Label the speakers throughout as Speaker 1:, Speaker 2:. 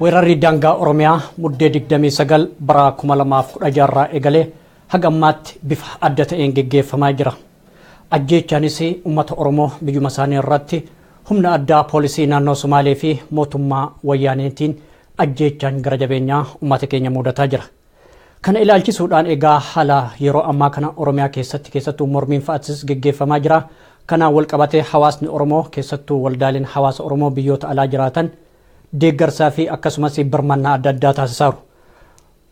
Speaker 1: Weerarri daangaa Oromiyaa muddee 29 bara 2016 irraa eegalee haga ammaatti bifa adda ta'een geggeeffamaa jira. Ajjeechaanis ummata Oromoo biyyuma isaanii irratti humna addaa poolisii naannoo Somaalee fi mootummaa Wayyaaneetiin ajjeechaan gara jabeenyaa ummata keenya muudataa jira. Kana ilaalchisuudhaan egaa haala yeroo ammaa kana Oromiyaa keessatti keessattuu mormiin fa'atis geggeeffamaa jira. Kanaan wal qabatee hawaasni Oromoo keessattuu waldaaleen hawaasa Oromoo biyyoota alaa jiraatan deeggarsaa fi akkasumas birmannaa adda addaa taasisaaru.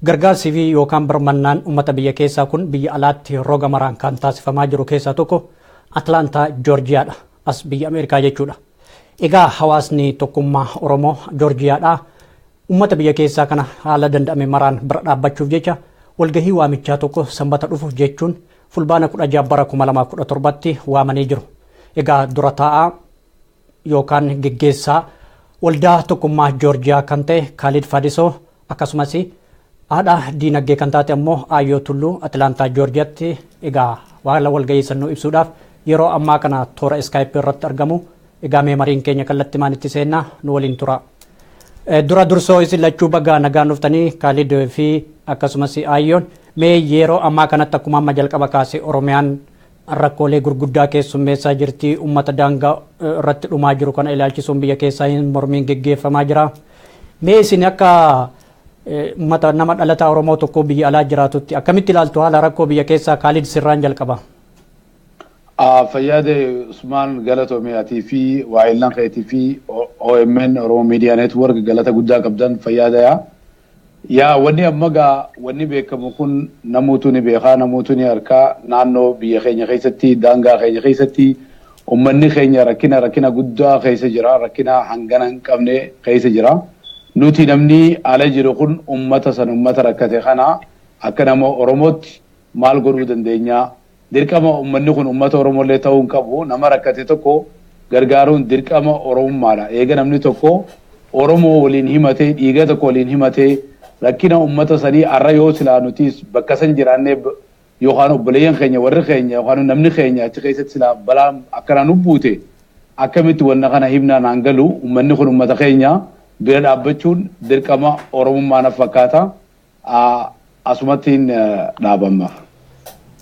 Speaker 1: Gargaarsii fi yookaan birmannaan ummata biyya keessaa kun biyya alaatti roga maraan kan taasifamaa jiru keessaa tokko Atlaantaa Joorjiyaa dha. As biyya Ameerikaa jechuu dha. Egaa hawaasni tokkummaa Oromoo Joorjiyaa dhaa ummata biyya keessaa kana haala danda'ame maraan bira dhaabbachuuf jecha walgahii waamichaa tokko Sanbata dhufu jechuun Fulbaana 16 bara 2017tti waamanii jiru. Egaa dura taa'aa yookaan geggeessaa waldaa tokkummaa Joorjiyaa kan ta'e Kaalid Fadisoo akkasumas haadha diinagdee kan taate ammoo Aayyoo Tulluu Atilaantaa Joorjiyaatti egaa waala walgahii sannuu ibsuudhaaf yeroo ammaa kana toora iskaayipii irratti argamu egaa mee mariin keenya kallattii maanitti seennaa nu waliin tura. Dura dursoo isin lachuu bagaa nagaan dhuftanii Kaalid fi akkasumas Aayyoon mee yeroo ammaa kanatti akkuma amma jalqaba kaase Oromiyaan rakkoolee gurguddaa keessummeessaa jirti. Uummata daangaa irratti dhumaa jiru kana ilaalchisuun biyya keessaa hin mormiin geggeeffamaa jira. Mee isin akka uummata nama dhalataa Oromoo tokkoo biyya alaa jiraatutti akkamitti ilaaltu haala rakkoo biyya keessaa Kaalid Sirraan jalqaba? Fayyaade
Speaker 2: Usmaan galatoomii atii fi waa'ellan keetii fi OMN Oromoo Miidiyaa Neetwoork galata guddaa qabdan fayyaadayaa. Yaa wani amma gaa wani beekamu kun namuutu ni beekaa namuutu ni arkaa naannoo biyya keenya keessatti daangaa keenya keessatti ummanni keenya rakkina rakkina guddaa keessa jira rakkina hangana hin qabne keessa jira nuti namni ala jiru kun ummata san ummata rakkate kana akka nama oromootti maal godhuu dandeenya Dirqama ummanni kun ummata Oromollee ta'uu hin qabu. Nama rakkate tokko gargaaruun dirqama Oromummaadha. Eega namni tokko Oromoo waliin himatee, dhiiga tokko waliin himatee, rakkina ummata sanii har'a yoo silaa nutiis bakka san jiraannee yookaan obboleeyyan keenya, warri keenya yookaan namni keenya achi keessatti silaa balaan akkanaa nu buute akkamitti wanna kana himna naan galu. Ummanni kun ummata keenya bira dhaabbachuun dirqama Oromummaa naf fakkaata. Asumattiin dhaabamma.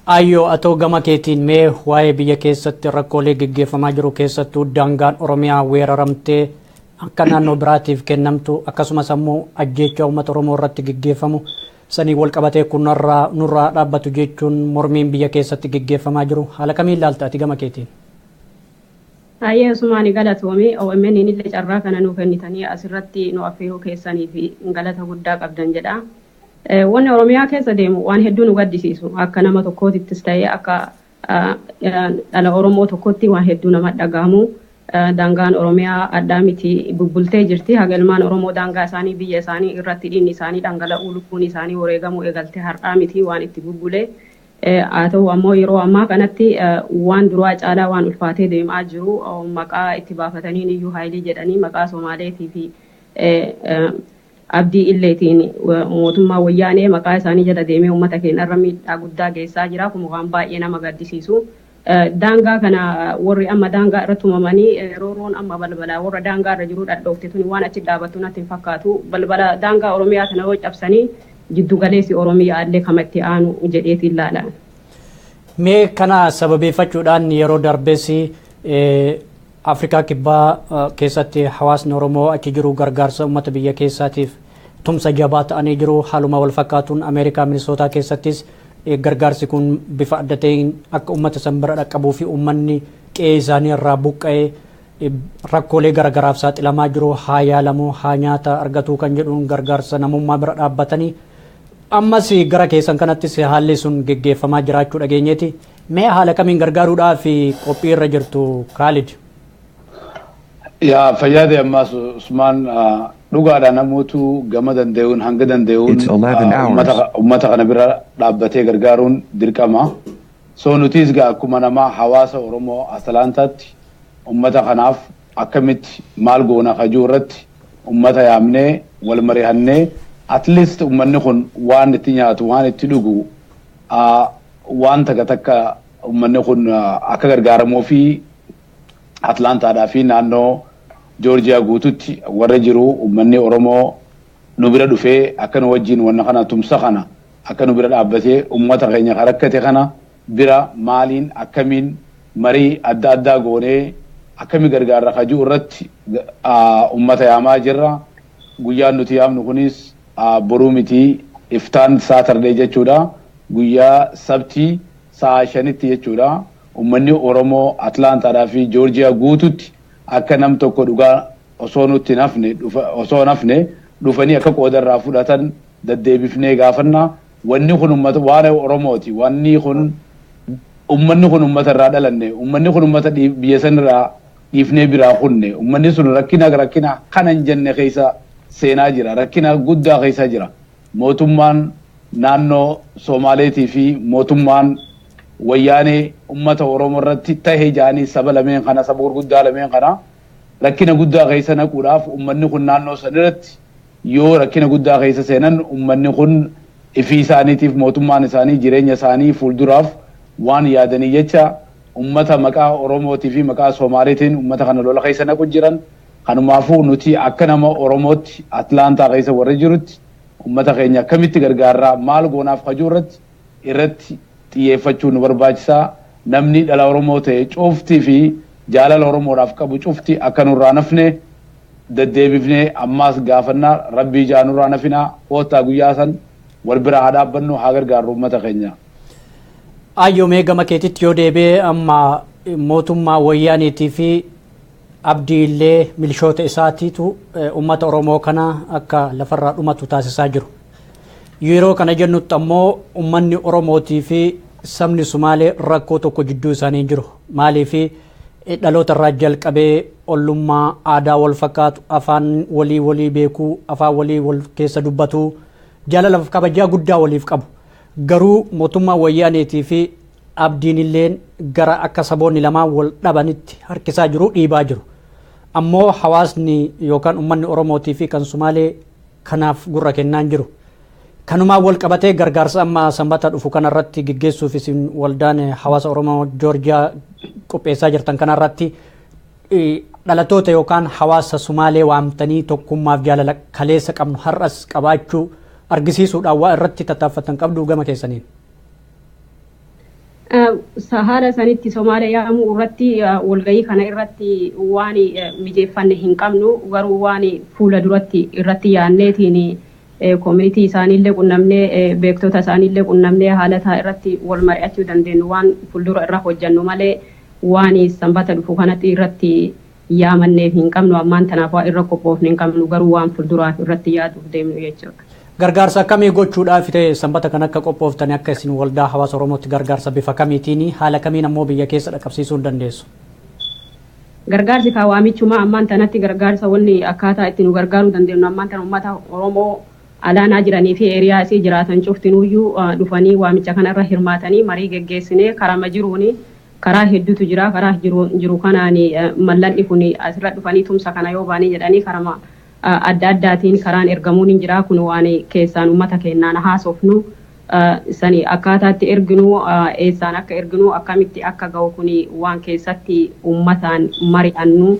Speaker 1: Aayyoo atoo gama keetiin mee waa'ee biyya keessatti rakkoolee geggeeffamaa jiru keessattuu daangaan Oromiyaa weeraramtee akka naannoo biraatiif kennamtu akkasumas ammoo ajjeechaa uummata Oromoo irratti geggeeffamu sanii wal qabatee kunarraa nurraa dhaabbatu jechuun mormiin biyya keessatti geggeeffamaa jiru haala kamiin ilaalta ati gama keetiin?
Speaker 3: Hayyee Usmaani galatoomi. OMNn illee carraa kana nuu kennitanii as irratti nu affeeruu keessaniif galata guddaa qabdan jedha. Wanni Oromiyaa keessa deemu waan hedduu nu gaddisiisu. Akka nama tokkootittis ta'ee akka dhala Oromoo tokkootti waan hedduu nama dhaga'amu. Daangaan Oromiyaa adhaa miti bubbultee jirti. Haga ilmaan Oromoo daangaa isaanii biyya isaanii irratti dhiigni isaanii dhangala'uu lubbuun isaanii woreegamuu eegalte har'aa miti waan itti bubbule. Haa ta'u ammoo yeroo ammaa kanatti waan duraa caalaa waan ulfaatee deem'aa jiru maqaa itti baafataniin iyyuu Haayilii jedhanii maqaa Somaaleetii fi Abdii Illeetiin mootummaa Woyyaanee maqaa isaanii jala deemee ummata keenya irra miidhaa guddaa geessaa jira. Kun waan baay'ee nama gaddisiisu. Daangaa kana worri amma daangaa irra tumamanii roorroon amma balbala worra daangaa irra jiruu dhadhoofte tuni waan achi dhaabattu natti hin fakkaatu. Balbala daangaa Oromiyaa tana yoo cabsanii jiddu galeessi Oromiyaa illee kama itti aanu jedheetiin ilaala. Mee
Speaker 1: kana sababeeffachuudhaan yeroo darbes Afrikaa Kibbaa keessatti hawaasni Oromoo achi jiru gargaarsa uummata biyya keessaatiif tumsa jabaa ta'anii jiru. Haaluma wal fakkaatuun Ameerikaa Minisootaa keessattis gargaarsi kun bifa adda ta'een akka uummata san bira dhaqqabuu fi uummanni qe'ee isaanii irraa buqqa'ee rakkoolee garagaraaf saaxilamaa jiru haa yaalamu haa nyaata argatuu kan jedhuun gargaarsa namummaa bira dhaabbatanii ammas gara keessan kanattis haalli sun geggeeffamaa jiraachuu dhageenyeeti. Mee haala kamiin gargaaruudhaaf qophii irra jirtu Kaalid?
Speaker 2: Yaa fayyaade ammaas Usmaan dhugaadha namootu gama danda'uun hanga danda'uun It's 11 hours. ummata ummata kana bira dhaabbatee gargaaruun dirqama. So nutis gaa akkuma namaa hawaasa Oromoo Atalaantaatti ummata kanaaf akkamitti maal goona kajuu irratti ummata yaamnee wal marihannee at least ummanni kun waan itti nyaatu waan itti dhugu waan takka takka uummanni kun akka gargaaramuu fi Atlaantaadhaa fi naannoo Joorjiyaa guututti warra jiru uummanni Oromoo nu bira dhufee akka nu wajjin wanna kana tumsa kana akka nu bira dhaabbatee uummata keenya kan rakkate kana bira maaliin akkamiin marii adda addaa goonee akkami gargaarra kajuu irratti uummata yaamaa jirra. Guyyaan nuti yaamnu kunis Boruu miti iftaan Saturday jechuudha guyyaa sabtii sa'aa 5tti jechuudha ummanni oromoo Atlanta dha fi Georgia guututti akka nam tokko dhugaa osoo nutti hin hafne osoo hin hafne dhufanii akka qooda irraa fudhatan daddeebifnee gaafanna wanni kun ummata waan oromooti wanni kun ummanni kun ummata irraa dhalanne ummanni kun ummata biyya san irraa dhiifnee biraa kunne ummanni sun rakkina rakkina kana hin jenne keessa seenaa jira rakkina guddaa keessa jira mootummaan naannoo soomaaleetii fi mootummaan wayyaanee ummata oromoo irratti tahe jaanii saba lameen kana saba gurguddaa lameen kana rakkina guddaa keessa naquudhaaf ummanni kun naannoo san irratti yoo rakkina guddaa keessa seenan ummanni kun ifii isaaniitiif mootummaan isaanii jireenya isaanii fuulduraaf waan yaadanii jecha Ummata maqaa Oromootii fi maqaa Somaaliitiin ummata kana lola keessa naqu jiran. Kanumaafuu nuti akka nama Oromootti Atlaantaa keessa warri jirutti ummata keenya akkamitti gargaarraa maal goonaaf ka jiru irratti irratti xiyyeeffachuun nu barbaachisa. Namni dhala Oromoo ta'e cufti fi jaalala Oromoodhaaf qabu cufti akka nurraa hin hafne deddeebifnee ammaas gaafanna. Rabbii ijaa nurraa hin hafinaa. Koottaa guyyaa san wal bira haa dhaabbannu, haa gargaarru ummata keenya.
Speaker 1: Ayyoomee gama keetitti yoo deebi'e amma mootummaa wayyaaniitii fi abdii illee milishoota isaatiitu uummata Oromoo kana akka lafarraa dhumatu taasisaa jiru. Yeroo kana jennutti ammoo uummanni Oromootii fi sabni Sumaalee rakkoo tokko jidduu isaanii hin jiru. Maaliif dhaloota irraa jalqabee ollummaa aadaa wal fakkaatu afaan walii walii beekuu afaan walii wal keessa dubbatuu jaalalaaf kabajaa guddaa waliif qabu. Garuu mootummaan Wayyaaneetii fi Abdiinilleen gara akka saboonni lamaan wal dhabanitti harkisaa jiru, dhiibaa jiru. Ammoo hawaasni yookaan ummanni Oromootii fi kan Sumaalee kanaaf gurra kennaa hin jiru. Kanumaan wal qabatee gargaarsa amma Sanbata dhufu kanarratti geggeessuuf isin waldaan hawaasa Oromoo Joorjiyaa qopheessaa jirtan kanarratti Dhalattoota yookaan hawaasa Sumaalee waamtanii tokkummaaf jaalala kaleessa qabnu har'as qabaachuu argisiisuudhaan waa irratti tattaaffattan qabdu gama keessaniin.
Speaker 3: Haala sanitti Somaalee yaamuu irratti walgahii kana irratti waan mijeeffanne hin qabnu garuu waan fuula duratti irratti yaanneetiin community isaanii illee qunnamnee beektota isaanii illee qunnamnee haala isaa irratti wal mari'achuu dandeenyu waan fuldura irra hojjannu malee waan sanbata dhufu kanatti irratti yaamanneef hin qabnu ammaan tanaaf waan irra qophoofne hin qabnu garuu waan fulduraaf irratti yaaduuf deemnu jechuudha. Gargaarsa akkamii
Speaker 1: gochuudhaaf ta'e sanbata kan akka qophooftani akka isin waldaa hawaasa Oromootti gargaarsa bifa kamiitiin haala kamiin ammoo biyya keessa dhaqqabsiisuu dandeessu?
Speaker 3: Gargaarsi kaa waamichumaa ammaan tanatti gargaarsa wanni akkaataa itti nu gargaaruu dandeennu ammaan tana ummata Oromoo alaanaa jiranii fi area isii jiraatan cuftinuuyyuu dhufanii waamicha kana irra hirmaatanii marii geggeessinee karama jiruuni karaa heddutu jira karaa jiru kanaan mallan'i kuni asirra dhufanii tumsa kana yoo baane jedhanii karama adda addaatiin karaan ergamuun hin jira. Kun waan keessaan ummata keennaan haasofnu san akkaataa itti erginu, eessaan akka erginu, akkamitti akka gahu kun waan keessatti ummataan mari'annu.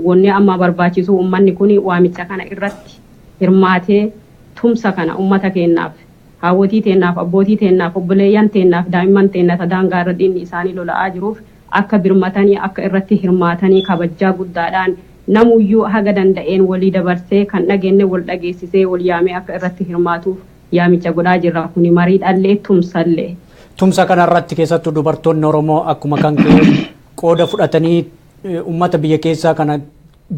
Speaker 3: Wanni amma barbaachisu ummanni kun waamicha kana irratti hirmaatee tumsa kana ummata keennaaf, haawwotii teennaaf, abbootii teennaaf, obboleeyyan teennaaf, daa'imman teenna ta daangaa irra diinni isaanii lola'aa jiruuf, akka birmatanii akka irratti hirmaatanii kabajjaa guddaadhaan namuyyuu haga danda'een wolii dabarsee kan dhagenne wol dhageessisee wol yaamee akka irratti hirmaatuuf yaamicha godhaa jirra kuni mariidhallee tumsallee. Tumsa kana
Speaker 1: irratti keessattu dubartoonni Oromoo akkuma kan kee qooda fudhatanii ummata biyya keessaa kana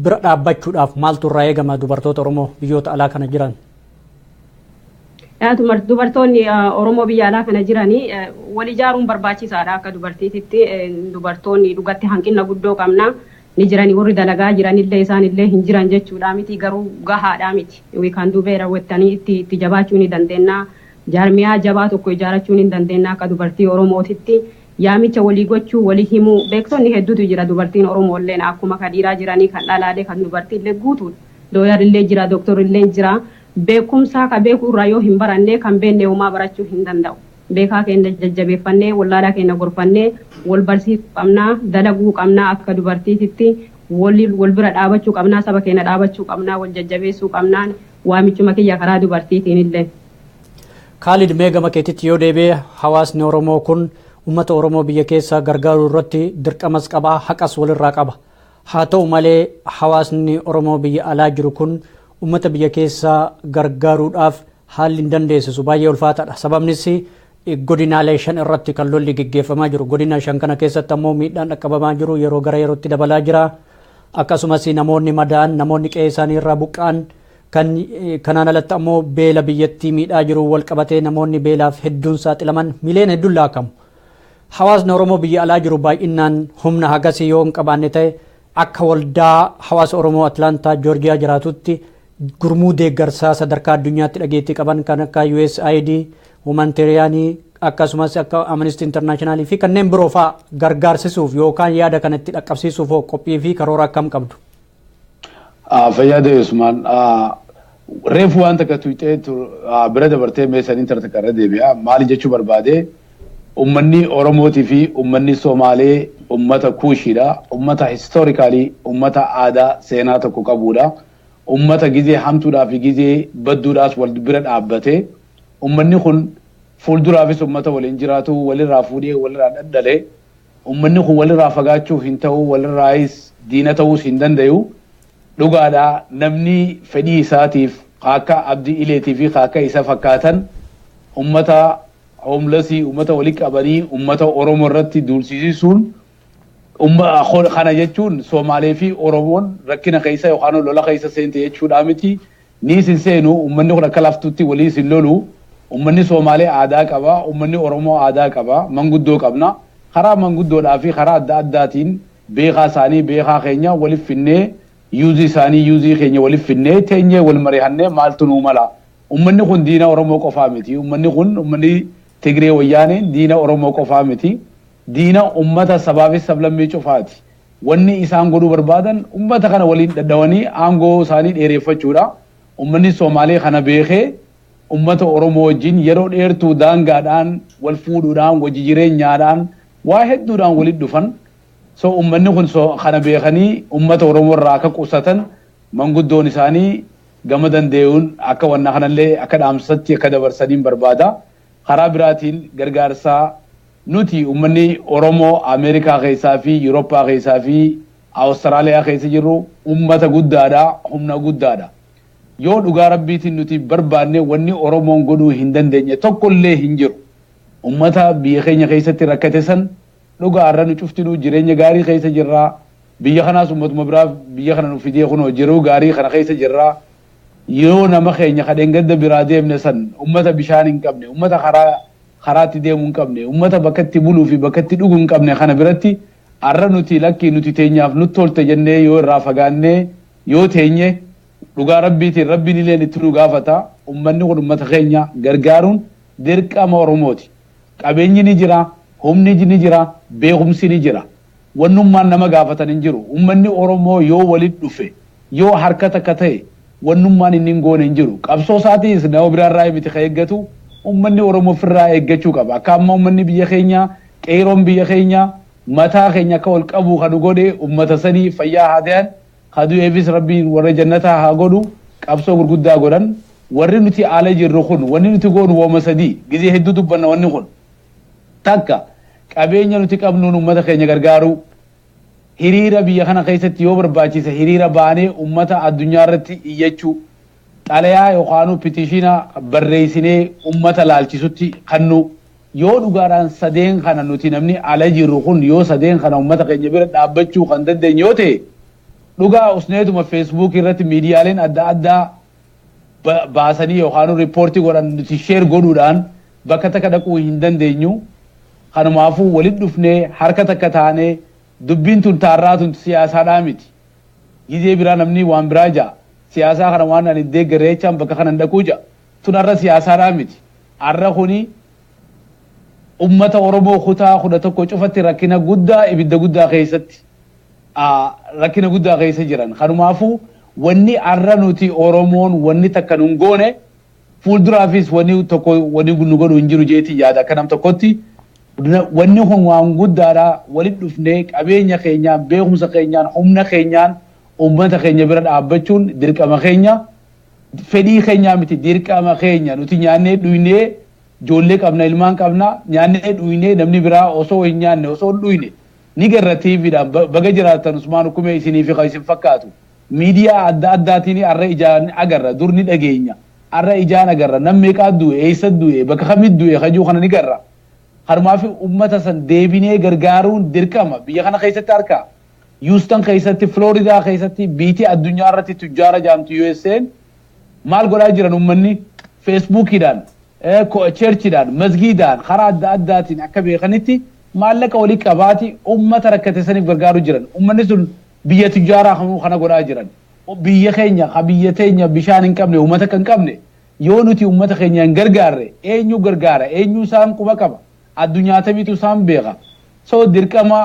Speaker 1: bira dhaabbachuudhaaf maaltu irraa eegama dubartoota Oromoo biyyoota alaa kana jiran?
Speaker 3: Dubartoonni Oromoo biyya alaa kana jiran wal ijaaruun barbaachisaadha akka dubartiititti dubartoonni dhugatti hanqina guddoo qabna ni jirani warri dalagaa jiranillee isaanillee hin jiran jechuudha miti garuu gahaadha miti we can do better wettanii itti itti jabaachuu ni dandeenya jaarmiyaa jabaa tokko ijaarachuu ni dandeenya akka dubartii Oromootitti yaamicha walii gochuu walii himuu beektonni hedduutu jira dubartiin Oromoolleen akkuma ka dhiiraa jiranii kan dhalaalee kan dubartiillee guutuudha. Looyar illee jira Doktor illeen jira beekumsaa ka beeku irraa yoo hin barannee kan beennee homaa barachuu hin danda'u beekaa keenna jajjabeeffannee wallaalaa keenna gorfannee wal barsiisuu qabnaa dalaguu qabnaa akka dubartiititti waliin wal bira dhaabachuu qabnaa saba keenna dhaabachuu qabnaa wal jajjabeessuu qabnaan waamichuma kiyya karaa dubartiitiin illeen. Kaalid
Speaker 1: mee gama keetitti yoo deebi'e hawaasni Oromoo kun uummata Oromoo biyya keessa gargaaruu irratti dirqamas qaba haqas walirraa qaba. Haa ta'u malee hawaasni Oromoo biyya alaa jiru kun ummata biyya keessaa gargaaruudhaaf haalli hin dandeessisu baay'ee ulfaataadha. Sababnis godinaalee shan irratti kan lolli geggeeffamaa jiru. Godina shan kana keessatti ammoo miidhaan dhaqqabamaa jiru yeroo gara yerootti dabalaa jira. Akkasumas namoonni madaa'an, namoonni qe'ee isaanii irraa buqqa'an kan kanaan alatti ammoo beela biyyattii miidhaa jiru wal qabatee namoonni beelaaf hedduun saaxilaman miiliyoona hedduun laakamu. Hawaasni Oromoo biyya alaa jiru baay'innaan humna hagasii yoo hin qabaanne ta'e akka waldaa hawaasa Oromoo Atlaantaa Joorjiyaa jiraatutti gurmuu deeggarsaa sadarkaa addunyaatti dhageettii qaban kan akka USAID, Humanitariyaanii akkasumas akka Amnesty International fi kanneen biroo fa'a gargaarsisuuf yookaan yaada kana itti dhaqqabsiisuuf hoo qophii fi karoora akkam qabdu?
Speaker 2: Fayyaa ta'e Usmaan. Reefu waan takka tuyxee bira dabartee mee saniin tara takka irra deebi'a. Maali jechuu barbaade ummanni Oromootii fi ummanni Somaalee ummata kuushiidha. Ummata historikaalii ummata aadaa seenaa tokko qabuudha. Ummata gizee hamtuudhaa fi gizee badduudhaas wal bira dhaabbate. Ummanni kun fuulduraafis ummata waliin jiraatu walirraa fuudhee walirraa dhadhale. Ummanni kun walirraa fagaachuuf hin ta'u, walirraayis diina ta'uus hin dandayu. Dhugaadha namni fedhii isaatiif ka akka Abdi Ileetii fi ka akka isa fakkaatan ummata homelessii, ummata walitti qabanii ummata Oromoo irratti duulsisisuun umma, kana jechuun Somaalee fi Oromoon rakkina keessa yookaan lola keessa seente jechuudhaa miti. Nii isin seenu ummanni kun akka laftutti walii isin lolu ummanni soomaalee aadaa qaba ummanni oromoo aadaa qaba manguddoo qabna karaa manguddoodhaa fi karaa adda addaatiin beekaa isaanii beekaa keenya walif finnee yuuzii isaanii yuuzii keenya walif finnee teenyee wal marihannee maaltu nuu mala ummanni kun diina oromoo qofaa miti ummanni kun ummanni tigree wayyaaneen diina oromoo qofaa miti diina ummata sabaa fi sablammii cufaati Wanni isaan godhuu barbaadan ummata kana waliin dhadhawanii aangoo isaanii dheereeffachuudha. Ummanni Somaalee kana beekee ummata Oromoo wajjin yeroo dheertuu daangaadhaan, wal fuudhuudhaan, wajji jireenyaadhaan, waa hedduudhaan walitti dhufan. So ummanni kun so kana beekanii ummata Oromoo irraa akka qusatan manguddoon isaanii gama dandeeyuun akka wanna kanallee akka dhaamsatti akka dabarsaniin barbaada. Karaa biraatiin gargaarsa. Nuti ummanni Oromoo Ameerikaa keessaa fi Yuroppaa keessaa fi Awustaraaliyaa keessa jirru ummata guddaa dha, humna guddaa dha. Yoo dhugaa Rabbiitiin nuti barbaanne wanni Oromoon godhuu hin dandeenye tokko illee hin jiru. Ummata biyya keenya keessatti rakkate san dhugaa har'a nu cuftinuu jireenya gaarii keessa jirra. Biyya kanaas ummatuma biraa biyya kana nuuf fidee kunoo jiruu gaarii kana keessa jirra. Yoo nama keenya ka dheengadda biraa deemne san ummata bishaan hin qabne, ummata karaa karaa itti deemu hin qabne, ummata bakka itti buluu fi bakka itti dhugu hin qabne kana biratti arra nuti lakki nuti teenyaaf nut tolte jennee yoo irraa fagaannee yoo teenye dhugaa Rabbiitiin Rabbiin illeen itti nu gaafata. Ummanni kun ummata keenya gargaaruun dirqama Oromooti. Qabeenyi ni jira, humni ni jira, beekumsi ni jira. Wanni ummaan nama gaafatan hin jiru. Ummanni Oromoo yoo walitti dhufe, yoo harka takka tahe, wanni ummaan inni hin goone hin jiru. Qabsoo isaatiis nama biraa irraa miti ka eeggatu, ummanni Oromoo ufi irraa eeggachuu qaba. Akka amma ummanni biyya keenyaa, qeeyroon biyya keenyaa, mataa keenya akka wal qabu ka nu godhe ummata sanii, fayyaa haa tayan, ka du'eefis Rabbiin warra jannataa haa godhu, qabsoo gurguddaa godhan. Warri nuti ala jirru kun, wanni nuti goonu woma sadii. Gizee hedduu dubbanna wanni kun. Takka, qabeenya nuti qabnuun ummata keenya gargaaruu. Hiriira biyya kana keessatti yoo barbaachise hiriira baanee ummata addunyaa irratti iyyachuu, xalayaa yookaanuu pitishiina barreessinee ummata laalchisutti kannuu. Yoo dhugaadhaan sadeen kana nuti namni ala jirru kun yoo sadeen kana ummata keenya bira dhaabbachuu kan dandeenye yoo ta'e, dhugaa usneetuma feesbuukii irratti miidiyaaleen adda addaa baasanii yookaan riippoortii godhan nuti sheer godhuudhaan bakka takka dhaquu hin dandeenyu. Kanumaafuu walitti dhufnee harka takka taanee dubbiin tun taarraa tun siyaasaadhaa miti. Gizee biraa namni waan biraa ja'a. Siyaasaa kana waan ani deeggare jechaan bakka kanan dhaquu ja'a. Tun har'a siyaasaadhaa miti. Har'a kuni ummata Oromoo kutaa kudha tokko cufatti rakkina guddaa ibidda guddaa keessatti rakkina guddaa keessa jiran. Kanumaafuu wanni har'a nuti Oromoon wanni takka nun goone fuulduraafis wanni tokko wanni nu godhu hin jiru jeetii yaada akka nam tokkotti. Wanni kun waan guddaadha walitti dhufnee qabeenya keenyaan beekumsa keenyaan humna keenyaan uummata keenya bira dhaabbachuun dirqama keenya. Fedhii keenyaa miti dirqama keenya nuti nyaannee dhuynee ijoollee qabna ilmaan qabna nyaannee dhuynee namni biraa osoo hin nyaanne osoo hin dhuyne ni garra tv dhaan baga jiraattan usmaan ukumee isiniifi kan isin fakkaatu midiyaa adda addaatiini arra ijaan agarra dur ni dhageenya arra ijaan agarra nam meeqaa du'e eessa du'e bakka kamit du'e kajuu kana ni garra kanumaafi ummata san deebinee gargaaruun dirqama biyya kana keessatti harka Houston keessatti Florida keessatti biiti addunyaa irratti tujjaara jaamtu USAn maal godhaa jiran ummanni Facebook dhaan church dhaan masgiidaan karaa adda addaatiin akka beekanitti Maallaqa wali qabaati ummata rakkate saniif gargaaru jiran. Ummanni sun biyya tujjaaraa kamuu kana godhaa jiran. Biyya keenya ka biyya teenya bishaan hin qabne umata akka hin qabne yoo nuti ummata keenya hin gargaarre eenyu gargaara eenyu isaan quba qaba addunyaa tamiitu isaan beeka so dirqama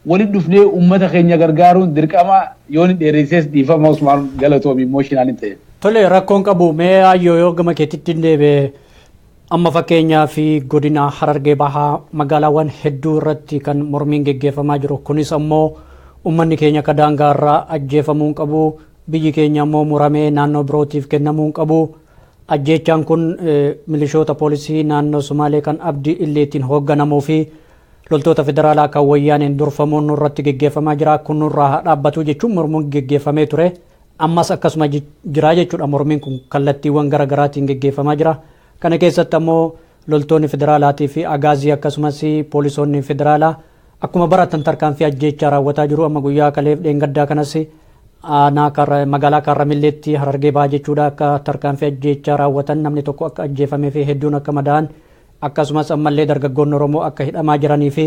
Speaker 2: wali dhufnee ummata keenya gargaaruun dirqama yooni dheereysees dhiifama usmaan galatoomi emotional hin ta'eef. Tole rakkoon qabu
Speaker 1: mee Aayyoo yoo gama keetittin deebi'e Amma fakkeenyaaf godina Harargee Bahaa magaalaawwan hedduu irratti kan mormiin geggeeffamaa jiru kunis ammoo ummanni keenya akka daangaa irraa ajjeefamuu hin qabu, biyyi keenya ammoo muramee naannoo birootiif kennamuu hin qabu, ajjeechaan kun milishoota poolisii naannoo Sumaalee kan Abdi Illeetiin hoogganamuu fi loltoota federaalaa kan Wayyaaneen durfamuun nurratti geggeeffamaa jira kun nurraa haa dhaabbatu jechuun mormuun geggeeffamee ture. Ammas akkasuma jira jechuudha mormiin kun kallattiiwwan gara garaatiin geggeeffamaa jira. Kana keessatti ammoo loltoonni federaalaatii fi agaazii akkasumas poolisoonni federaalaa akkuma baratan tarkaanfii ajjeechaa raawwataa jiru. Amma guyyaa kaleef dheengaddaa kanas magaalaa Kaarramilleetti Harargee Bahaa jechuudha akka tarkaanfii ajjeechaa raawwatan namni tokko akka ajjeefamee fi hedduun akka madaa'an akkasumas ammallee dargaggoonni Oromoo akka hidhamaa jiranii fi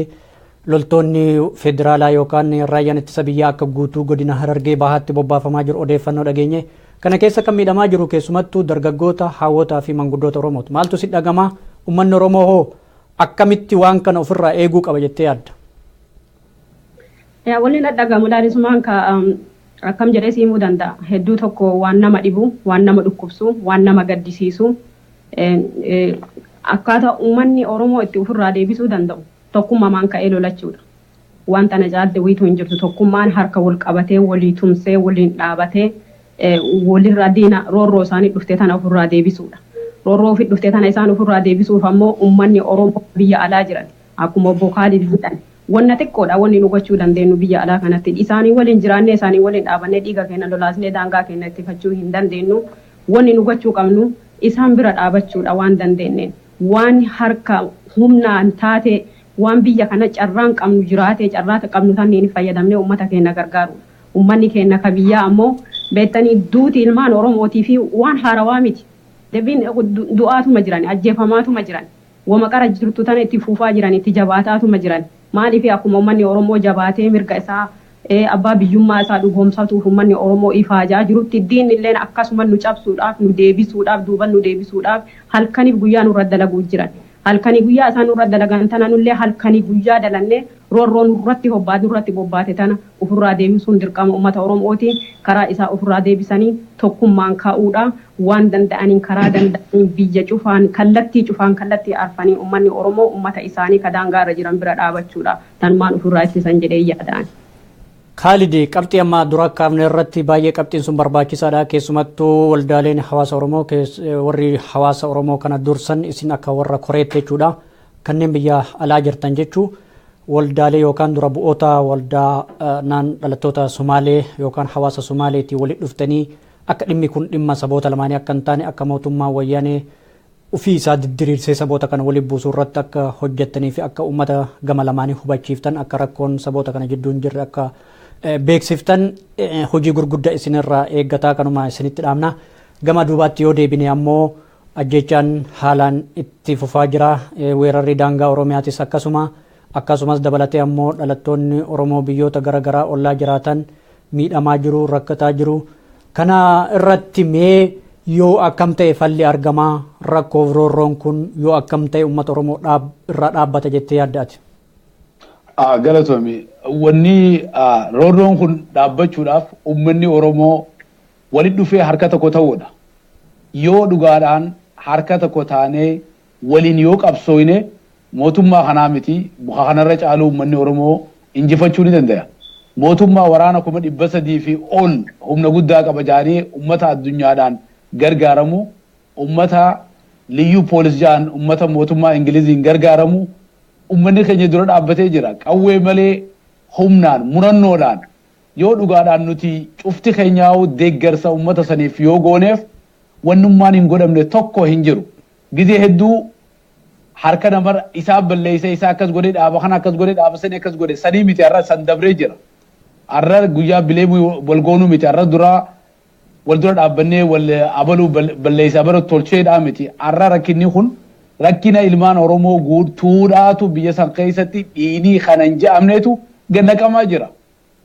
Speaker 1: Loltoonni Federaalaa yookaan Raayyaan Ittisa Biyyaa akka guutuu godina Harargee Bahaatti bobbaafamaa jiru odeeffannoo dhageenye. Kana keessa kan miidhamaa jiru keessumattuu dargaggoota, haawwotaa fi manguddoota Oromooti. Maaltu si dhagama? Uummanni Oromoo hoo akkamitti waan kana ofirraa eeguu qaba jettee yaadda?
Speaker 3: Wanni na dhagamu laalismaan ka akkam jedhee si himuu danda'a. Hedduu tokko waan nama dhibu, waan nama dhukkubsu, waan nama gaddisiisu akkaataa uummanni Oromoo itti ofirraa deebisuu danda'u Tokkummamaan ka'ee lolachuudha. Waan tana caalti wiitu hin jirtu. Tokkummaan harka wol qabatee, wolii tumsee, woliin dhaabatee, wolirraa diina roorroo isaanii dhufte tana ufirraa deebisuudha. Roorroo ufi dhufte tana isaan ufirraa deebisuuf ammoo ummanni Oromoo ka biyya alaa jiran, akkuma Obbo Kaalid jedhan, wonna xiqqoodha wonni nu gochuu dandeennu biyya alaa kanatti. Isaanii woliin jiraannee, isaanii woliin dhaabannee, dhiiga keenna lolaasnee daangaa keenna ittifachuu hin dandeennu. Wonni nu gochuu qabnu isaan bira dhaabachuudha waan dandeenneen. waan harka humnaan taatee waan biyya kana carraan qabnu jiraatee carraa qabnu sanniin fayyadamnee uummata keenna gargaaruudha. Uummanni keenna ka biyyaa ammoo beettanii duuti ilmaan Oromootiifii waan haarawaa miti. Debiin du'aatuma jiran, ajjeefamaatuma jiran, woma qara jirtu tana itti fuufaa jiran, itti jabaataatuma jiran. Maaliif akkuma ummanni Oromoo jabaatee mirga isaa, abbaa biyyummaa isaa dhugoomsatuuf ummanni Oromoo ifaajaa jirutti diinni illeen akkasuma nu cabsuudhaaf, nu deebisuudhaaf, duuban nu deebisuudhaaf halkaniif guyyaa nurra dalaguutti jiran. Halkanii guyyaa isaan nurra dalagan tana nullee halkanii guyyaa dalannee roorroo nurratti hobbaatu irratti bobbaate tana ufirraa deebisuun dirqama ummata Oromooti. Karaa isaa ufirraa deebisanii tokkummaan ka'uudha. waan danda'aniin karaa danda'aniin biyya cufaan kallattii cufaan kallattii arfaniin ummanni Oromoo ummata isaanii ka daangaa irra jiran bira dhaabachuu dha. Tanumaan uf irraa ittisan jedheen yaada ani. Kaalid,
Speaker 1: Qabxii amma dura kaafne irratti baay'ee qabxiin sun barbaachisaa dha. Keessumattuu waldaaleen hawaasa Oromoo kees- eh, warri hawaasa Oromoo kana dursan isin akka warra koreetti jechuu dha. Kanneen biyya alaa jirtan jechuu waldaalee yookaan dura bu'oota waldaa eh, naan dhalattoota Somaalee yookaan hawaasa Somaaleetii walitti dhuftanii Akka dhimmi kun dhimma saboota lamaanii akka hin taane akka mootummaan wayyaanee ufii isaa diddiriirsee saboota kana waliin buusu irratti akka hojjettanii fi akka uummata gama lamaanii hubachiiftan akka rakkoon saboota kana jidduu hin jirre akka beeksiftan hojii gurgudda isin irraa eeggataa kanuma isinitti dhaamna gama duubaatti yoo deebine ammoo ajjechaan haalaan itti fufaa jira weerarri daangaa oromiyaatis akkasuma Akkasumas dabalatee ammoo dhalattoonni Oromoo biyyoota gara garaa ollaa jiraatan miidhamaa jiru, rakkataa jiru. Kana irratti mee yoo akkam ta'e falli argama, rakkoof roorroon kun yoo akkam ta'e uummata Oromoo dhaab, irraa dhaabbata jettee yaadda ati? Ah,
Speaker 2: galatoomi. Wanni ah, roorroon kun dhaabbachuudhaaf uummanni Oromoo walitti dhufee harka tokko ta'uudha. Yoo dhugaadhaan harka tokko taanee waliin yoo qabsooyne mootummaa kanaa miti ka kanarra caaluu ummanni Oromoo injifachuu ni dandaya. Mootummaa waraana 300,000 fi ol humna guddaa qaba ja'anii ummata addunyaadhaan gargaaramu, ummata Liyyuu Poolis ja'an ummata mootummaa Ingiliziin gargaaramu ummanni keenya dura dhaabbatee jira. Qawwee malee humnaan, murannoodhaan yoo dhugaadhaan nuti cufti keenyaahuu deeggarsa ummata saniif yoo gooneef wannummaan hin godhamne tokko hin jiru. Gizee hedduu harka nama isaan balleessee isaa akkas godhee dhaaba kana akkas godhee dhaaba sanii akkas godhe sanii miti har'a san dabree jira. Har'a guyyaa bileemuu wal goonuu miti har'a duraa wal dura dhaabbannee wal abaluu balleessa abaluu tolcheedhaa miti har'a rakkinni kun rakkina ilmaan Oromoo guutuudhaatu biyya san keessatti dhiinii kanan ja'amneetu gad naqamaa jira.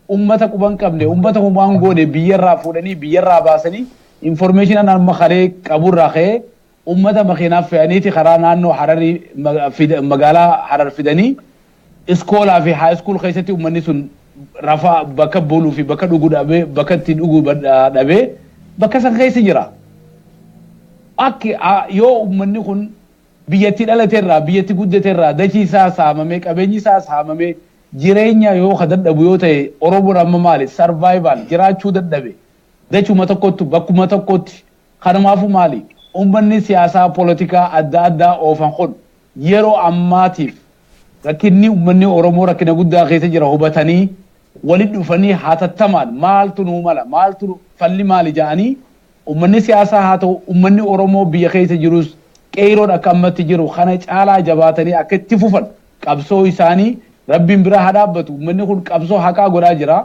Speaker 2: Ummata quba hin qabne, ummata homaa hin goone biyya irraa fuudhanii, biyya irraa baasanii information ani amma kalee qabu irraa ka'ee ummata makiinaa fe'aniiti karaa naannoo Hararii magaalaa Harar fidanii iskoolaa fi high school keessatti ummanni sun rafaa bakka buluu fi bakka dhuguu dhabee bakka itti dhuguu dhabee bakka san keessa jira. Akki yoo ummanni kun biyyatti dhalate irraa biyyatti guddate irraa dachii isaa saamamee qabeenyi isaa saamamee Jireenyaa yoo ka dadhabu yoo ta'e Oromoon amma maali survival jiraachuu dadhabe dachuma tokkottu bakkuma tokkotti kanumaafu maali ummanni siyaasaa polotikaa adda addaa oofan kun yeroo ammaatiif rakkinni ummanni Oromoo rakkina guddaa keessa jira hubatanii walitti dhufanii hatattamaan maaltu nuu mala maaltu falli maali ja'anii Ummanni siyaasaa haa ta'u ummanni Oromoo biyya keessa jirus Qeeyroon akka ammatti jiru kana caalaa jabaatanii akka itti fufan qabsoo isaanii Rabbiin bira haa dhaabbatu. Ummanni kun qabsoo haqaa godhaa jira.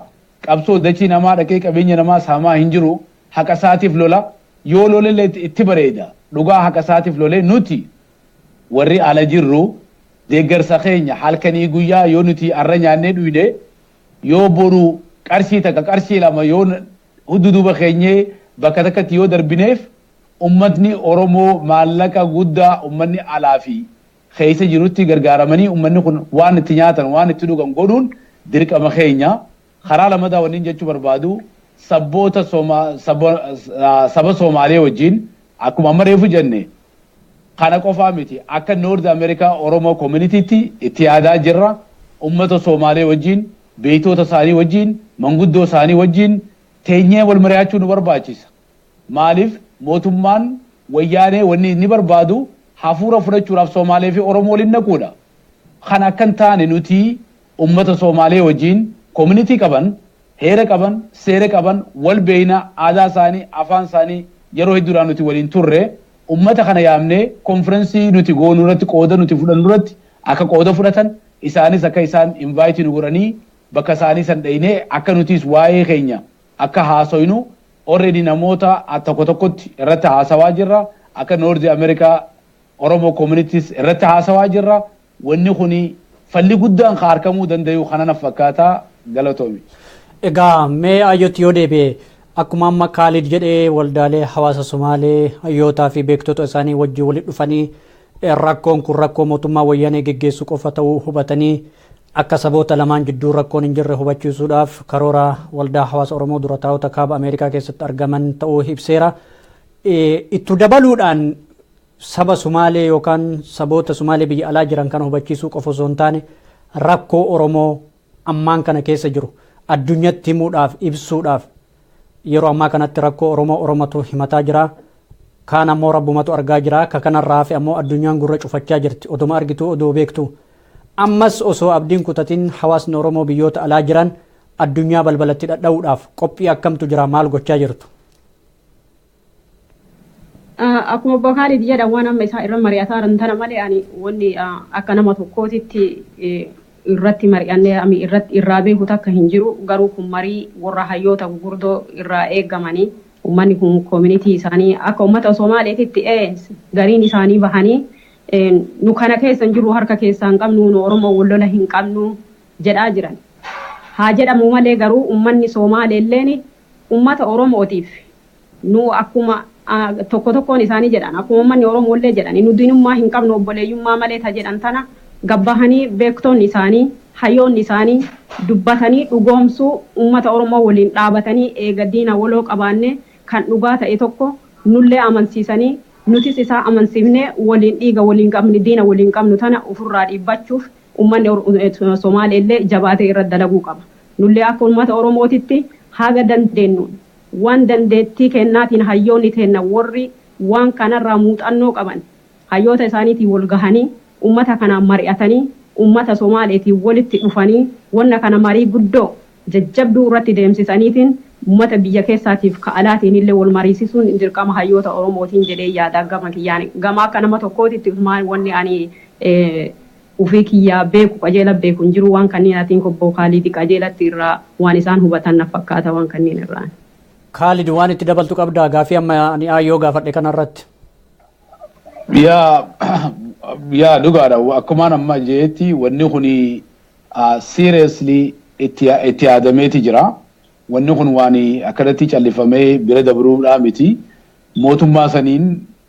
Speaker 2: Qabsoo dachii namaa dhaqee qabeenya namaa saamaa hin jiru. Haqa isaatiif lola. Yoo lolellee itti bareeda. Dhugaa haqa isaatiif lolee nuti warri ala jirru deeggarsa keenya halkanii guyyaa yoo nuti arra nyaannee dhuyne yoo boru qarshii takka qarshii lama yoo Huddu duuba keenyee bakka takkatti yoo darbineef ummatni Oromoo maallaqa guddaa ummanni alaa fi keessa jirutti gargaaramanii ummanni kun waan itti nyaatan waan itti dhugan godhuun dirqama keenya. Karaa lamataa wannin jechuu barbaadu sabboota saba Soomaalee wajjin akkuma amma reefu jenne kana qofaa miti akka North America Oromoo Community tti itti yaadaa jirra. Ummata Soomaalee wajjin Beektoota isaanii wajjin, manguddoo isaanii wajjin teenyee wal mari'achuu nu barbaachisa. Maaliif mootummaan wayyaanee wanni inni barbaadu hafuura fudhachuudhaaf Soomaalee fi Oromoo waliin naquudha. Kana akka hin taane nuti ummata Soomaalee wajjin community qaban, heera qaban, seera qaban, wal beekna, aadaa isaanii, afaan isaanii yeroo hedduudhaa nuti waliin turre. Ummata kana yaamnee konfirensii nuti goonu irratti qooda nuti fudhannu irratti Akka qooda fudhatan, isaanis akka isaan invite nu godhanii bakka isaanii san dheyne akka nutiis waa'ee keenya akka haasoynu already namoota a tokko tokkotti irratti haasawaa jirra akka North America Oromo communities irratti haasawaa jirra wanni kuni falli guddaan ka arkamuu dandayu kana naf fakkaata galatoomi. Egaa
Speaker 1: mee Ayyootti yoo deebi'e akkuma amma Kaalid jedhee waldaalee hawaasa Somaalee hayyootaa fi beektota isaanii wajjin walitti dhufanii Rakkoon kun rakkoo mootummaa Wayyanee geggeessu qofa ta'uu hubatanii akka saboota lamaan jidduu rakkoon hin jirre hubachiisuudhaaf karoora Waldaa Hawaasa Oromoo Durataa'ota Kaaba Ameerikaa keessatti argaman ta'uu ibseera. Ittu dabaluudhaan saba Sumaalee yookaan saboota Sumaalee biyya alaa jiran kana hubachiisuu qofa osoo hin taane rakkoo Oromoo ammaan kana keessa jiru addunyatti himuudhaaf ibsuudhaaf yeroo ammaa kanatti rakkoo Oromoo Oromatu himataa jira. Kaan ammoo Rabbumatu argaa jira. Ka kanarraa hafe ammoo addunyaan gurra cufachaa jirti. Oduma argituu odoo beektu. Ammas osoo abdiin kutatin hawaasni Oromoo biyyoota alaa jiran addunyaa balbalatti dhadha'uudhaaf qophii akkamtu jira maal gochaa jirtu?
Speaker 3: Akkuma Obbo Kaalid jedhan waan amma isaa irra mari'ataa jiran tana malee ani wanni akka nama tokkootitti irratti mari'annee ami irratti irraa beeku takka hin jiru garuu kun marii warra hayyoota gugurdoo irraa eegamanii ummanni kun koominitii isaanii akka ummata Somaaleetitti gariin isaanii bahanii nu kana keessa hin jirru harka keessaa hin qabnu nu Oromoo wal lola hin qabnu jedhaa jiran. Haa jedhamu malee garuu ummanni Somaaleelleen Ummata Oromootiif nu akkuma tokko tokkoon isaanii jedhan, akkuma ummanni Oromoollee jedhani nu diinummaa hin qabnu obboleeyyummaa malee ta jedhan tana gad bahanii beektonni isaanii, hayoonni isaanii dubbatanii dhugoomsuu ummata Oromoo waliin dhaabatanii eega diina waloo qabaannee kan dhugaa ta'e tokko nullee amansiisanii nutis isaa amansiifnee waliin dhiiga waliin qabne diina waliin qabnu tana ufirraa dhiibbachuuf ummanni Somaaleellee jabaatee irratti dalaguu qaba. Nullee akka ummata Oromootitti haga dandeennuun, waan dandeettii keennaatiin hayyoonni teenna worri waan kanarraa muuxannoo qaban hayyoota isaaniitiin wol gahanii, ummata kanaan mari'atanii, ummata Somaaleetiin wolitti dhufanii wonna kana marii guddoo, jajjabduu irratti deemsisaniitiin ummata biyya keessaatiif ka alaatiinillee wol mariisisuun dirqama hayyoota Oromootiin jedheen yaada gama kiyyaan. Gama akka nama tokkootitti usumaan wonni ani Ufii kiyyaa beeku qajeela beeku hin jiru waan kanniin atiin kobboo kaaliidi qajeelatti irraa waan isaan hubatan naf fakkaata waan kanniin irraan. Kaalid waan
Speaker 1: itti dabaltu qabdaa gaafii amma ani Aayyoo gaafadhe kana irratti?
Speaker 2: Yaa yaa dhugaadha akkumaan amma jeetti wanni kun seriously itti itti yaadameeti jira wanni kun waan akkanatti callifamee bira dabruudhaa miti mootummaa saniin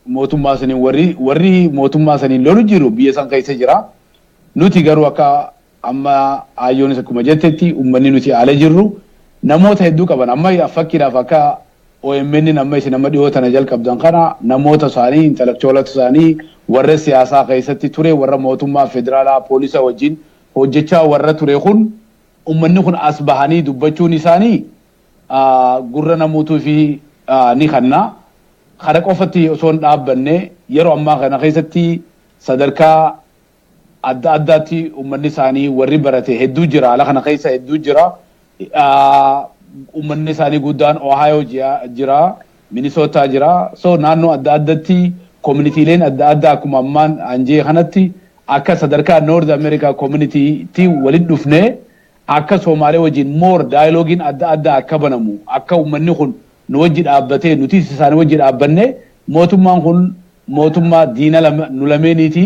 Speaker 2: mootummaa saniin warri warri mootummaa saniin lolu jiru biyya san keessa jira. Nuti garuu akka amma aayyoonis akkuma jettetti ummanni nuti ala jirru namoota hedduu qaban amma fakkiidhaaf akka OMN amma isin amma dhiyoo tana jalqabdan kana namoota isaanii intellectualota isaanii warra siyaasaa keessatti ture warra mootummaa federaalaa poolisa wajjin hojjechaa warra ture kun ummanni kun as bahanii dubbachuun isaanii gurra namuutiif ni kanna. Kana qofatti osoo hin dhaabbanne yeroo ammaa kana keessatti sadarkaa adda addaatti uummanni isaanii warri barate hedduu jira. Haala kana keessa hedduu jira. Uummanni isaanii guddaan Ohio jira, Minnesota jira. So naannoo adda addatti koominiitiileen adda addaa akkuma ammaan anjee kanatti akka sadarkaa North America community tti walitti dhufnee Akka Soomaalee wajjin more dialogue'n adda addaa akka banamu, akka ummanni kun nu wajji dhaabbatee nutis isaani wajji dhaabbanne, mootummaan kun mootummaa diina lama nu lameeniiti,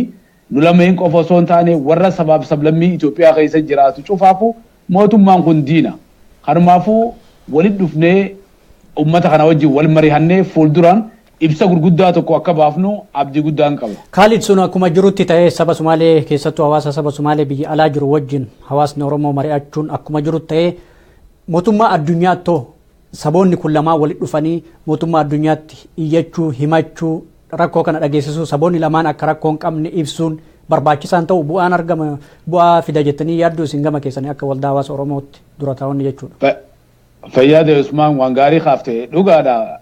Speaker 2: nu lameen qofa osoo hin taane warra sabaaf sablammii Itoophiyaa keessa jiraatu cufaafu mootummaan kun diina. Kanumaafu walitti dhufnee ummata kana wajjin wal marihannee fuulduraan Ibsa gurguddaa tokko akka baafnu abdii guddaan qaba. Kaalid, Sun akkuma jirutti
Speaker 1: ta'ee saba Sumaalee keessattuu hawaasa saba Sumaalee biyya alaa jiru wajjin hawaasni Oromoo mari'achuun akkuma jirutti ta'ee mootummaa addunyaatto saboonni kun lamaan walitti dhufanii mootummaa addunyaatti iyyachuu, himachuu, rakkoo kana dhageessisuu saboonni lamaan akka rakkoo hin qabne ibsuun barbaachisaan ta'u bu'aan argama bu'aa fida jettanii yaadduu isin gama keessanii akka waldaa hawaasa Oromootti dura taa'onni jechuudha. Fayyaade
Speaker 2: Usmaan waan gaarii kaafte dhugaadha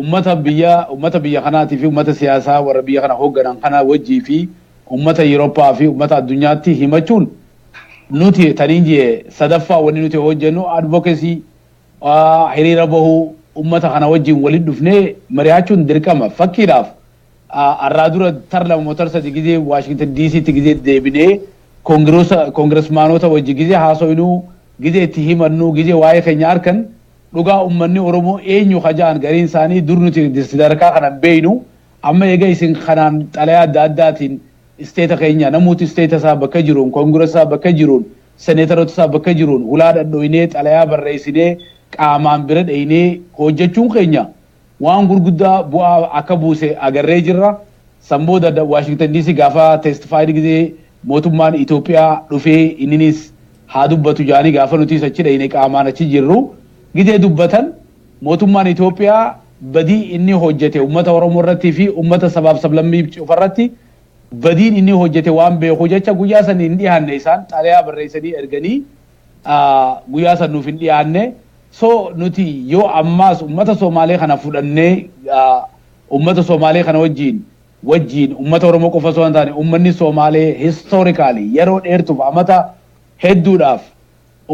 Speaker 2: ummata biyya ummata biyya kanaatii fi ummata siyaasaa warra biyya kana hoogganan kana wajjii fi ummata Yurooppaa fi ummata addunyaatti himachuun nuti taniin jee sadaffaa wanni nuti hojjennu advocacy hiriira bahuu ummata kana wajjin walitti dhufnee mari'achuun dirqama fakkiidhaaf Arraa dura tar lama moo tar sadi gizee Washington DC ti gizee deebinee Kongirosa Kongiresmaanota wajji gizee haasoynuu gizee itti himannuu gizee waa'ee keenya arkan dhugaa ummanni Oromoo eenyu ka ja'an gariin isaanii dur nuti sadarkaa kana hin beeynu amma eega isin kanaan xalayaa adda addaatiin Isteeta keenya namuutu Isteeta isaa bakka jiruun Kongiresa isaa bakka jiruun Senetarota isaa bakka jiruun hulaa dhadhoynee xalayaa barreeysinee qaamaan bira dheeynee hoojjachuun keenya Waan gurguddaa bu'aa akka buuse agarree jirra. San booda Washington DC gaafa testified gizee mootummaan Ethiopia dhufee inniniis haa dubbatu jaanii gaafa nutiis achi dhayne qaamaan achi jirru gizee dubbatan mootummaan Ethiopia badii inni hojjate ummata Oromoo irratti fi ummata sabaaf sablammii cufa irratti badiin inni hojjate waan beeku jecha guyyaa san hin dhihanne isaan xalayaa barreessanii erganii guyyaa san nuuf hin dhiyaanne so nuti yoo ammaas ummata Somaalee kana fudhannee ummata Somaalee kana wajjiin wajjiin ummata Oromoo qofa osoo hin taane ummanni Somaalee historically yeroo dheertuuf amata hedduudhaaf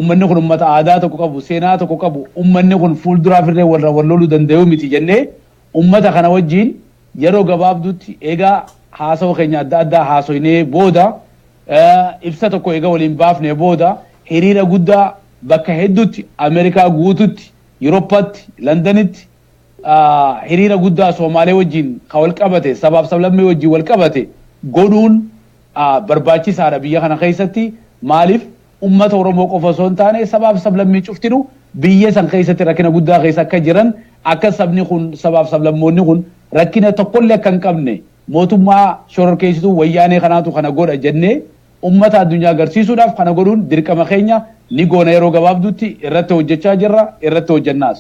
Speaker 2: ummanni kun ummata aadaa tokko qabu seenaa tokko qabu ummanni kun fuulduraaf illee walra wal loluu danda'u miti jennee ummata kana wajjiin yeroo gabaabduutti egaa haasawa keenya adda addaa haasoynee booda Ibsa tokko eega waliin baafnee booda hiriira guddaa bakka hedduutti Ameerikaa guututti, Yuroppatti, Landanitti hiriira guddaa Soomaalee wajjiin ka wal qabate, sabaaf sablammii wajjiin wal qabate godhuun barbaachisaadha biyya kana keessatti. Maaliif ummata Oromoo qofa osoo hin taane sabaaf sablammii cuftinu biyya san keessatti rakkina guddaa keessa akka jiran akka sabni kun sabaaf sablammoonni kun rakkina tokkollee akka hin qabne Mootummaa shororkeessituu Wayyaanee kanaatu kana godha jennee ummata addunyaa garsiisuudhaaf kana godhuun dirqama keenya, ni goona yeroo gabaabduutti irratti hojjechaa jirra, irratti hojjennaas.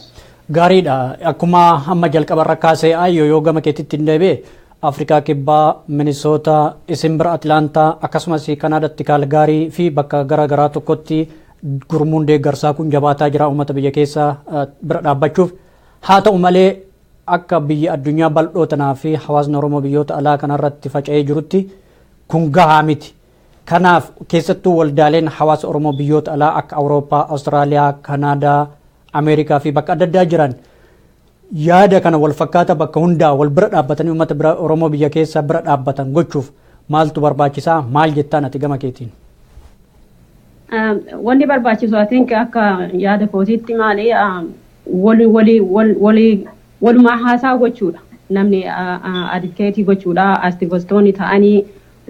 Speaker 2: Gaariidha.
Speaker 1: Akkuma amma jalqabarra kaase Ayyoo yoo gama keetittin deebi'e Afrikaa Kibbaa, Minisoota, isin bira Atlaantaa akkasumas Kanaadatti Kaalgaarii fi bakka gara garaa tokkotti gurmuun deeggarsaa kun jabaataa jira uummata biyya keessa bira dhaabbachuuf. Haa ta'u malee Akka biyya addunyaa bal'oo tanaa fi hawaasni Oromoo biyyoota alaa kana irratti faca'ee jirutti kun gahaa miti. Kanaaf keessattuu waldaaleen hawaasa Oromoo biyyoota alaa akka Awurooppaa, Awustiraaliyaa, Kanaadaa, Ameerikaa fi bakka adda addaa jiran yaada kana wal fakkaata bakka hundaa wal bira dhaabbatanii uummata bira Oromoo biyya keessa bira dhaabbatan gochuuf maaltu barbaachisaa maal jettaan ati gama keetiin?
Speaker 3: Wanti barbaachisu I think akka yaada kootiitti maali wali wali wal wali walumaa haasaa gochuudha namni adivkeetii gochuudha astivostoonni ta'anii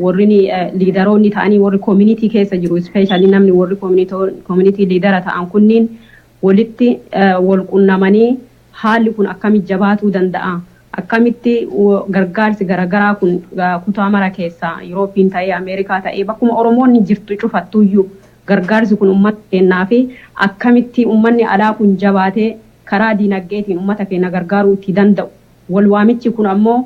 Speaker 3: warrini liidaroonni ta'anii warri koominitii keessa jiru ispeeshaalii namni warri koominitii liidara ta'an kunniin walitti wal qunnamanii haalli kun akkami jabaatuu danda'a akkamitti gargaarsi garagaraa kun kutaa mara keessaa Yuroopiin ta'ee Ameerikaa ta'ee bakkuma Oromoonni jirtu cufattuyyuu Gargaarsi kun ummata keennaafi akkamitti ummanni alaa kun jabaatee karaa diinagdeetiin ummata keenna gargaaruu itti danda'u wal waamichi kun ammoo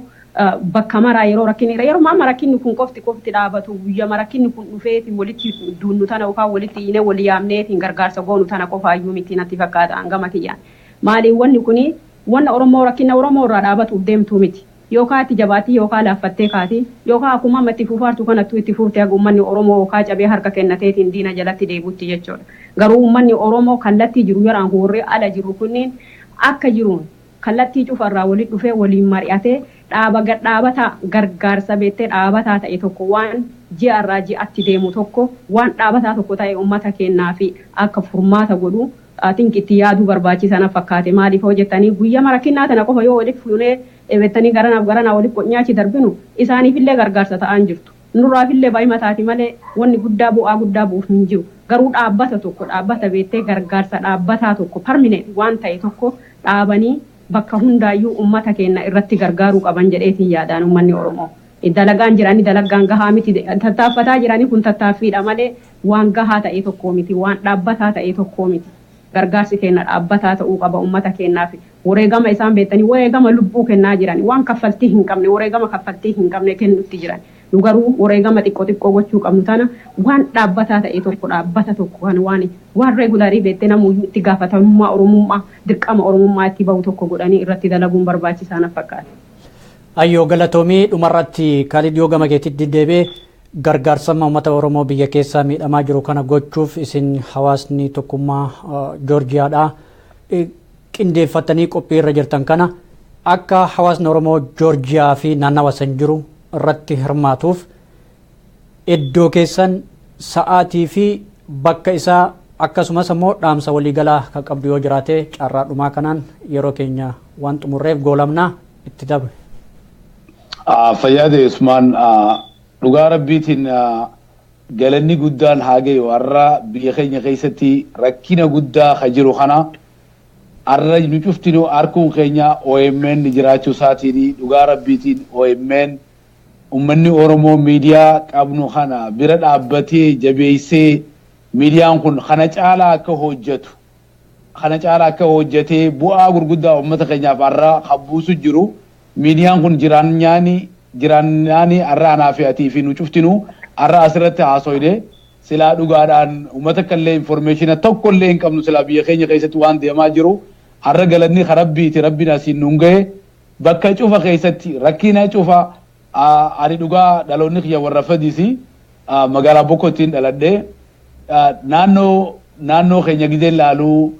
Speaker 3: bakka maraa yeroo rakkinni irra yeruma amma rakkinni kun qofti qofti dhaabatu guyyama rakkinni kun dhufeeti walitti duunnu tana yookaan walitti iyyinee wal yaamneetiin gargaarsa goonu tana qofaayyuu miti natti fakkaata an gama kiyyaan. Maaliif wanni kun wanna Oromoo rakkinna Oromoo irraa dhaabatuuf deemtuu miti. Yookaa itti jabaattii yookaa laaffattee kaati. Yookaa akkumaa amma itti fuufaartu kanattuu itti fuufte haga ummanni Oromoo yookaa cabee harka kennateetiin diina jalatti deebutti jechoodha. Garuu ummanni Oromoo kallattii jiru yaraan kun warri ala jirru kunniin akka jiruun kallattii cufa irraa walitti dhufee waliin mari'atee dhaaba gad dhaabataa gargaarsa beettee dhaabataa ta'e tokko waan ji'a irraa ji'atti deemu tokko waan dhaabataa tokko ta'e ummata keennaaf akka furmaata godhu I think itti yaaduu barbaachisa na fakkaate maaliif hoo jettanii guyyama rakkinnaa tana qofa yoo walitti fuunee dhebettanii garanaaf garanaa walitti qocnee achi darbinu isaaniifillee gargaarsa ta'aan jirtu nurraafillee bayima taati malee wanni guddaa bu'aa guddaa bu'uuf hin jiru garuu dhaabbata tokko dhaabbata beettee gargaarsa dhaabbataa tokko perminent waan ta'e tokko dhaabanii bakka hundaayyuu ummata keenna irratti gargaaruu qaban jedheetiin yaada ani ummanni oromoo dalagaan jirani dalaggaan gahaa miti tattaaffataa jirani kun tattaaffiidha malee waan gahaa ta'ee tokkoo miti, waan dhaabbataa ta'ee tokkoo miti. Gargaarsi keenna dhaabbataa ta'uu qaba ummata keennaaf. Woreegama isaan beettanii woreegama lubbuu kennaa jiran. Waan kaffaltii hin qabne, woreegama kaffaltii hin qabne kennutti jiran. Nu garuu woreegama xiqqo xiqqoo gochuu qabnu tana waan dhaabbataa ta'ee tokko, dhaabbata tokko kan waan waan regular beettee namuuyyuu itti gaafatamummaa Oromummaa, dirqama Oromummaa itti bahu tokko godhanii irratti dalaguun barbaachisaa naf fakkaata. Ayyoo
Speaker 1: galatoomi. Dhumarratti Kaalid yoo gama keetitti deebi'e, Gargaarsa Umata Oromoo biyya keessaa miidhamaa jiru kana gochuuf isin hawaasni tokkummaa Joorjiyaadhaa qindeeffattanii qophii irra jirtan kana akka hawaasni Oromoo Joorjiyaa fi naannawa san jiru irratti hirmaatuuf iddoo keessan sa'aatii fi bakka isaa akkasumas ammoo dhaamsa waliigalaa kan qabdu yoo jiraate carraa dhumaa kanaan yeroo keenya waan xumurreef goolabnaa itti dabre. Fayyaatee
Speaker 2: Usmaan dhugaa rabbiitiin galanni guddaan haa gayu har'a biyya keenya keessatti rakkina guddaa ka jiru kana har'a nu cuftinu harkuun keenya OMN jiraachuu isaatiin dhugaa rabbiitiin OMN ummanni Oromoo miidiyaa qabnu kana bira dhaabbatee jabeessee miidiyaan kun kana caalaa akka hojjetu kana caalaa akka hojjetee bu'aa gurguddaa uummata keenyaaf har'a kan buusu jiru Miidiyaan kun jiraanyaani jiraannaani arra anaa fi atii fi nu cuftinuu arra as irratti haasoyne silaa dhugaadhaan uma takka illee informeeshina tokko illee hin qabnu silaa biyya keenya keessatti waan deemaa jiru arra galanni ka rabbiiti rabbiin asiin nuun gahe bakka cufa keessatti rakkina cufa a ani dhugaa dhaloonni kiyya warra fadisi a magaalaa bokkottiin dhaladhe a naannoo naannoo keenya gizeen laaluu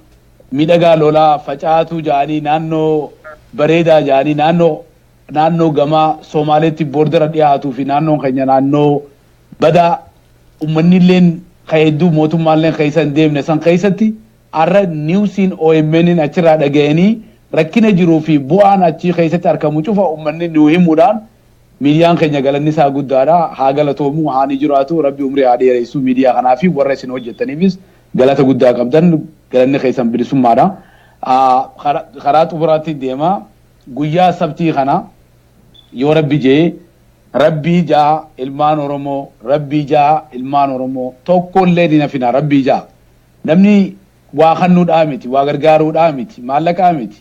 Speaker 2: Miidhagaa lolaa facaatuu ja'anii naannoo bareedaa ja'anii naannoo naannoo gama Soomaaleetti boordara dhiyaatuu fi naannoon keenya naannoo badaa ummannilleen ka hedduu mootummaalleen keessa hin deemne san keessatti arra niwsiin OMN'n achirraa dhagayanii rakkina jiruu fi bu'aan achii keessatti arkamu cufa ummanni nuu himuudhaan miidiyaan keenya galanni isaa guddaadha haa galatoomu haa ni jiraatu rabbi umrii haa dheereessu miidiyaa kanaa fi warra isin hojjettaniifis Galata guddaa qabdan. Galanni keessan bilisummaadha. Karaa xumuraatti deema. Guyyaa sabtii kana yoo rabbi jee rabbii jaa ilmaan oromoo rabbii jaa ilmaan oromoo tokko illee hin hafina rabbii jaa namni waa kannuudhaa miti waa gargaaruudhaa miti maallaqaa miti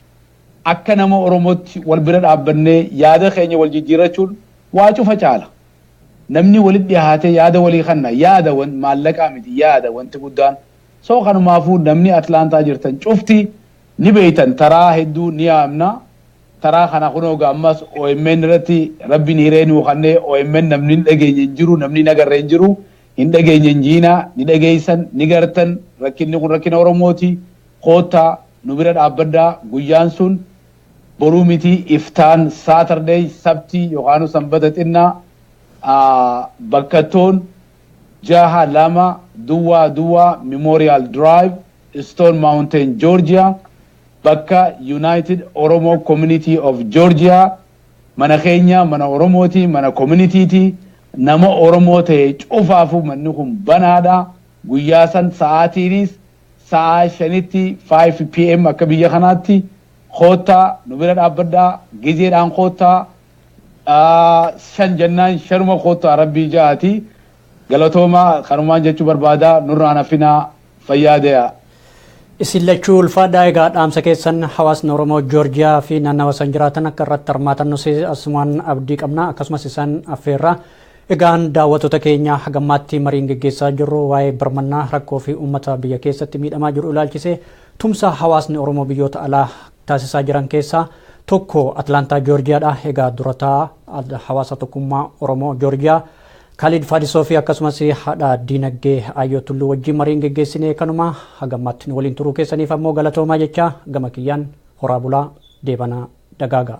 Speaker 2: akka nama oromootti wal bira dhaabbannee yaada keenya wal jijjiirrachuun waa cufa caala. Namni walitti dhihaatee yaada walii kanna yaada wan maallaqaa miti yaada wanti guddaan so kanumaafuu namni Atlanta jirtan cufti ni beeytan taraa hedduu ni yaamna taraa kana kunoo ga ammas omn irratti rabbiin hiree nuu kanne omn namni hin dhageenye hin jiru namni hin agarre hin jiru hin dhageenye hin jiina ni dhageeysan ni gartan rakkinni kun rakkina oromooti koottaa nu bira dhaabbadhaa guyyaan sun Boruu miti iftaan Saturday sabtii yokaanu sanbata xinna a bakkattoon jaaha lama duwwaa duwwaa Memorial Drive Stone Mountain Georgia bakka United Oromo Community of Georgia mana keenya mana oromooti mana community ti nama oromoo ta'e cufaafu manni kun banaadha guyyaa san sa'aatiinis sa'aa shanitti 5 pm akka biyya kanaatti Koottaa nu bira dhaabbadhaa gizeedhaan koottaa shan jennaan shanuma koottaa rabbii ja'aati galatoomaa kanumaan jechuu barbaadaa nurraan hafinaa fayyaa dee'aa. Isin
Speaker 1: lachuu ulfaadhaa egaa dhaamsa keessan hawaasni Oromoo Joorjiyaa fi naannawa san jiraatan akka irratti hirmaatan nus asumaan abdii qabna akkasumas isaan affeerra. Egaan daawwattoota keenya hagammaatti mariin geggeessaa jirru waa'ee birmannaa rakkoo fi uummata biyya keessatti miidhamaa jiru ilaalchisee Tumsa hawaasni Oromoo biyyoota alaa taasisaa jiran keessaa tokko Atlaantaa Joorjiyaadha. Egaa dura taa'aa hawaasa tokkummaa Oromoo Joorjiyaa Kaaliid Faadisoo fi akkasumas haadha diinagdee Aayyoo Tulluu wajjin mariin geggeessine kanuma haga ammaatti nu waliin turuu keessaniif ammoo galatoomaa jechaa gama kiyyaan horaa bulaa deebanaa dagaagaa.